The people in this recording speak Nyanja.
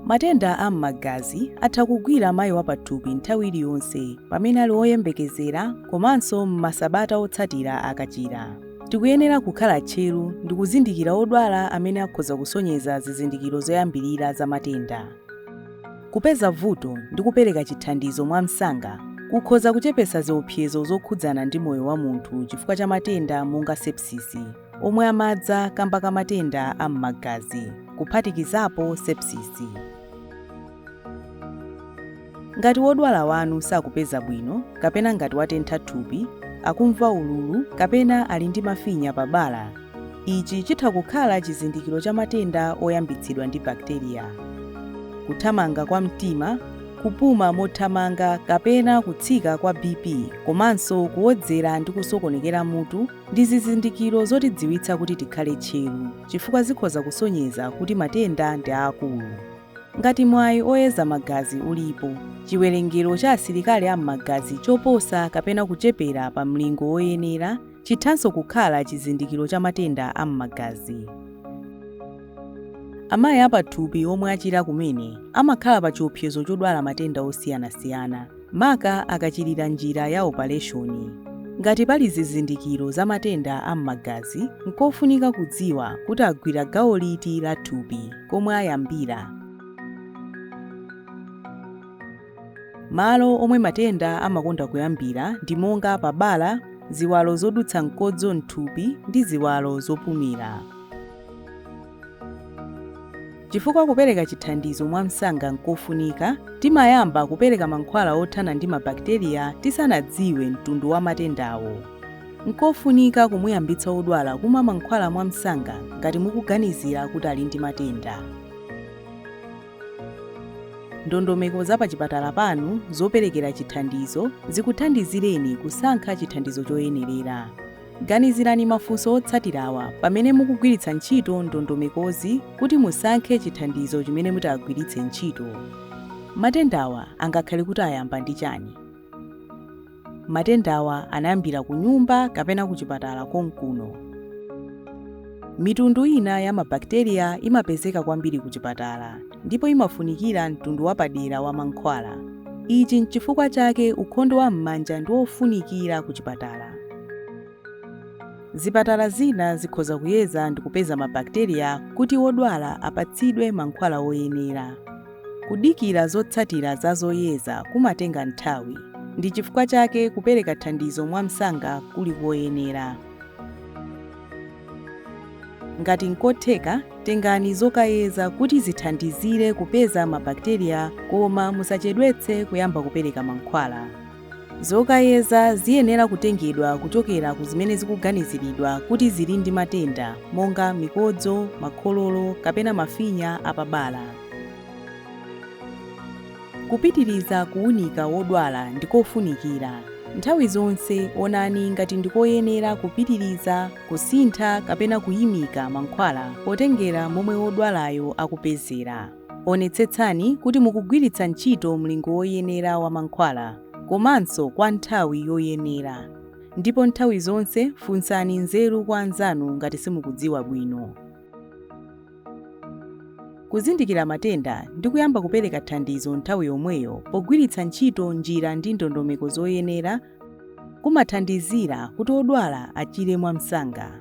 Matenda a m'magazi atha kugwira mayi wapathupi nthawi iliyonse pamene ali woyembekezera komanso m'masabata otsatira akachira. Tikuyenera kukhala tcheru ndi kuzindikira odwala amene akhoza kusonyeza zizindikiro zoyambirira za matenda. Kupeza vuto ndi kupereka chithandizo mwamsanga kukhoza kuchepetsa ziopsezo zokhudzana ndi moyo wa munthu chifukwa cha matenda monga sepsisi, omwe amadza kamba ka matenda a m'magazi, kuphatikizapo sepsisi. Ngati wodwala wanu sakupeza bwino kapena ngati watentha thupi, akumva ululu kapena ali ndi mafinya pa bala, Ichi chitha kukhala chizindikiro cha matenda oyambitsidwa ndi bakiteriya. Kuthamanga kwa mtima, kupuma mothamanga kapena kutsika kwa BP komanso kuwodzera ndi kusokonekera mutu ndi zizindikiro zotidziwitsa kuti tikhale tcheru chifukwa zikhoza kusonyeza kuti matenda ndi aakulu. Ngati mwayi oyeza magazi ulipo, chiwerengero cha asilikali a m'magazi choposa kapena kuchepera pa mlingo woyenera, Chithanso kukhala chizindikiro cha matenda a m'magazi. Amayi apathupi omwe achira kumene amakhala pa chiopsezo chodwala matenda osiyanasiyana, maka akachirira njira ya opaleshoni. Ngati pali zizindikiro za matenda a m'magazi, nkofunika kudziwa kuti agwira gawo liti la thupi, komwe ayambira, Malo omwe matenda amakonda kuyambira ndi monga pa bala, ziwalo zodutsa mkodzo m'thupi ndi ziwalo zopumira. Chifukwa kupereka chithandizo mwamsanga n'kofunika, timayamba kupereka mankhwala othana ndi mabakiteriya tisanadziwe mtundu wa matendawo. N'kofunika kumuyambitsa wodwala kumwa mankhwala mwamsanga ngati mukuganizira kuti ali ndi matenda. Ndondomeko za pachipatala panu zoperekera chithandizo zikuthandizireni kusankha chithandizo choyenerera. Ganizirani mafunso otsatirawa pamene mukugwiritsa ntchito ndondomekozi kuti musankhe chithandizo chimene mutagwiritse ntchito. Matendawa angakhale kuti ayamba ndi chani? Matendawa anayambira kunyumba kapena kuchipatala konkuno. Mitundu ina ya mabakiteriya imapezeka kwambiri kuchipatala ndipo imafunikira mtundu wapadera wa mankhwala. Ichi n'chifukwa chake ukhondo wa m'manja ndi wofunikira kuchipatala. Zipatala zina zikhoza kuyeza ndi kupeza mabakiteriya kuti wodwala apatsidwe mankhwala oyenera. Kudikira zotsatira za zoyeza kumatenga nthawi, ndi chifukwa chake kupereka thandizo mwamsanga kuli koyenera. Ngati nkotheka, tengani zokayeza kuti zithandizire kupeza mabakiteriya koma musachedwetse kuyamba kupereka mankhwala. Zokayeza ziyenera kutengedwa kuchokera ku zimene zikuganiziridwa kuti zili ndi matenda monga mikodzo, makhololo kapena mafinya a pa bala. Kupitiriza kuwunika wodwala ndi kofunikira. Nthawi zonse onani ngati ndi koyenera kupitiriza, kusintha kapena kuyimika mankhwala potengera momwe wodwalayo akupezera. Onetsetsani kuti mukugwiritsa ntchito mlingo woyenera wa mankhwala komanso kwa nthawi yoyenera ndipo nthawi zonse funsani nzeru kwa anzanu ngati simukudziwa bwino. Kuzindikira matenda ndi kuyamba kupereka thandizo nthawi yomweyo pogwiritsa ntchito njira ndi ndondomeko zoyenera kumathandizira kuti odwala achire mwamsanga.